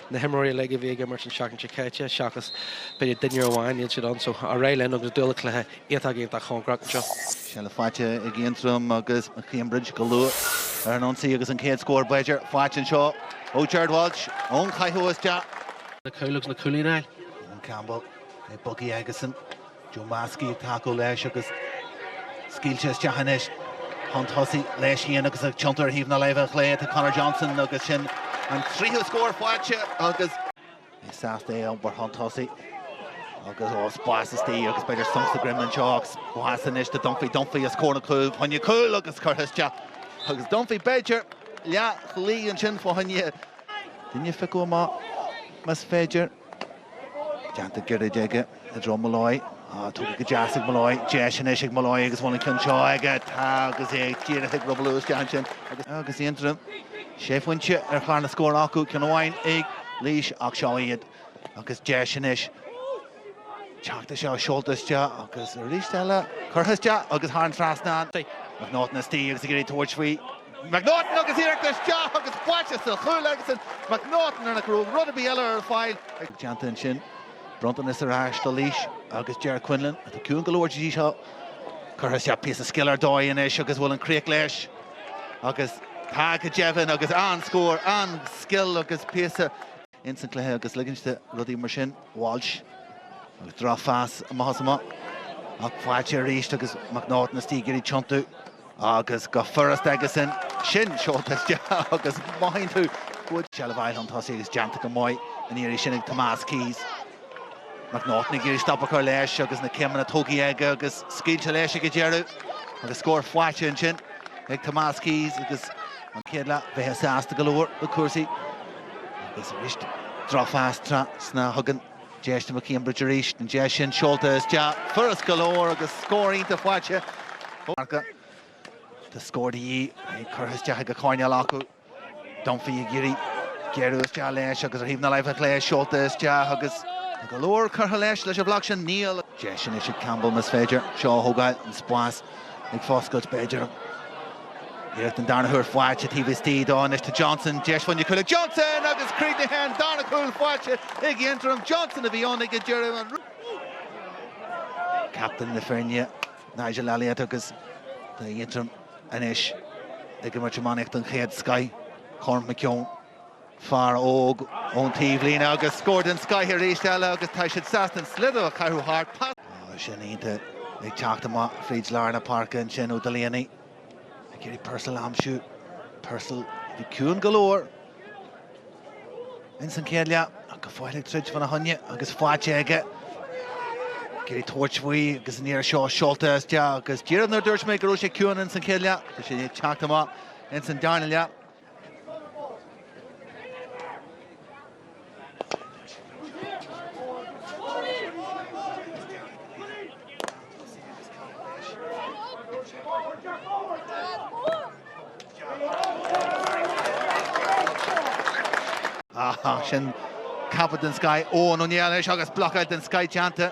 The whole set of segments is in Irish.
Na himreoirí uilig a bhí ag imirt an tseachtain seo caite, seachas b'fhéidir duine amháin, níl siad ann so ar aghaidh linn agus dúil le cluiche iontach, iontach cóngarach anseo. Seilbh faighte ag Aontroim agus McCambridge go luath ar an ionsaí agus an chéad scór b'fhéidir faighte anseo ó Gerard Walsh ón chaitheamh isteach. Cúl agus naoi cúilín aige. Eoin Campbell ag bogadh aigesean. Joe Maskey ag tacú leis agus scaoilte isteach anois chun tosaigh leis féin agus ag tiontú ar thaobh na láimhe clé atá Conor Johnson agus sin an tríú scór faighte agus é sásta é a iompar chun tosaigh agus spás istigh agus b'fhéidir sonc sa droim anseo ach spás anois do Dunphy, Dunphy os comhair na cúil, fá choinne cúil agus curtha isteach agus Dunphy b'fhéidir leath shlí ansin fá choinne duine a phiocadh amach más féidir. Déanta gairid aige i dtreo Molloy. Ah, tógtha go deas ag Molloy. Deis anois ag Molloy agus bhfuil an ceann seo aige. Tá agus é díreach ag drithleáil isteach ansin. Agus, agus Aontroim sé phointe ar chlár na scór acu, ceann amháin ag Laois ach seo iad agus deis anois. Teacht anseo seolta isteach agus arís eile curtha isteach agus thar an trasnán. McNaughton istigh agus ag iarraidh tabhairt faoi. McNaughton agus iarracht isteach agus faighte sa chúl agus an McNaughton nach raibh rud ar bith eile ar fáil aige. Déanta ansin, bronntanas ar ais do Laois agus Ger Quinlan, atá ciúin go leor go dtí seo. Curtha isteach píosa scil ar dóigh anois agus bhfuil an críoch leis agus tá go deimhin agus an scór, an scil agus píosa. ins an cluiche agus ligint do rudaí mar sin. Walsh, agus drochphas amach is amach. Ach faighte arís agus McNaughton istigh ag iarraidh tiontú. Agus go furast aigesean. Sin seolta isteach agus mothaíonn tú go dtig seilbh a fháil chun tosaigh agus déanta go maith an iarraidh sin ag Tomas Keyes. McNaughton ag iarraidh stop a chur leis agus na céimeanna tugtha aige agus scaoilte leis ag an deireadh agus scór faighte ansin ag Tomás Keyes agus an chéad leath bhí sé sásta go leor le cúrsaí agus arís drochphas trasna a thugann deis do McCambridge arís an deis sin seolta isteach furast go leor agus scór iontach faighte ó Arca. Tá scór de dhíth ag curtha isteach ag an choirnéal acu. Dunphy ag iarraidh géarú isteach leis agus ar thaobh na láimhe clé, seolta isteach agus tá go leor curtha leis, leis an bhloc sin, Neil. Deis anois ag Campbell, más féidir seo a thógáil, an spás ag foscailt b'fhéidir. Iarracht an darna huair faighte taobh istigh dó anois do Johnson, deis fá choinne cúil ag Johnson agus críochnaithe an darna cúl faighte ag Aontroim, Johnson a bhí ann ag an deireadh. Captaen na foirne. Nigel Elliott agus tá Aontroim anois ag imirt iománaíocht den chéad scoith. Cormac McKeown, fear óg ón taobhlíne agus scór den scoith arís eile agus tá siad sásta an sliotar a chaitheamh thart. Pas iontach ag teacht amach fríd lár na páirce ansin ó Delaney. Ag iarraidh Purcell a aimsiú. Purcell a bhí ciúin go leor ins an chéad leath ach go fóill ag troid fá na choinne agus faighte aige. Ag iarraidh tabhairt faoi agus an iarraidh seo seolta isteach agus díreach nuair a dúirt mé go raibh sé ciúin ins an chéad leath tá sé ag teacht amach ins an darna leath. Ach sin catch den scoith Eoghan Ó Néill anois agus blocáil den scoith déanta.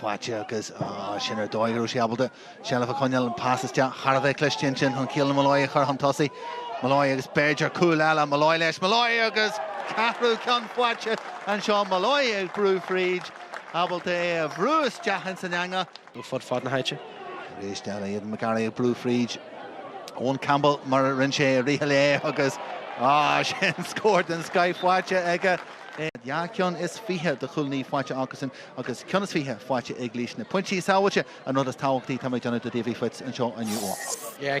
faighte agus sin ar dóigh go raibh sé ábalta seilbh a choinneáil, an pas isteach thar a bheith cliste ansin chun Keelan Molloy a chur chun tosaigh. Molloy agus b'fhéidir cúl eile, Molloy leis, Molloy agus ceathrú ceann faighte anseo, Molloy ag brú fríd, ábalta é a bhrú isteach ins an eangach. fud fad na háite. Tar éis deireadh, McGarry ag brú fríd, Eoin Campbell mar a rinne sé i rith an lae agus sin scór den scoith faighte aige. Dhá cheann is fiche de chúilíní faighte acusan. Agus ceann is fiche faighte ag Laois na pointí sábháilte an rud is tábhachtaí tá mé ag déanamh do Davy Fitz anseo inniu.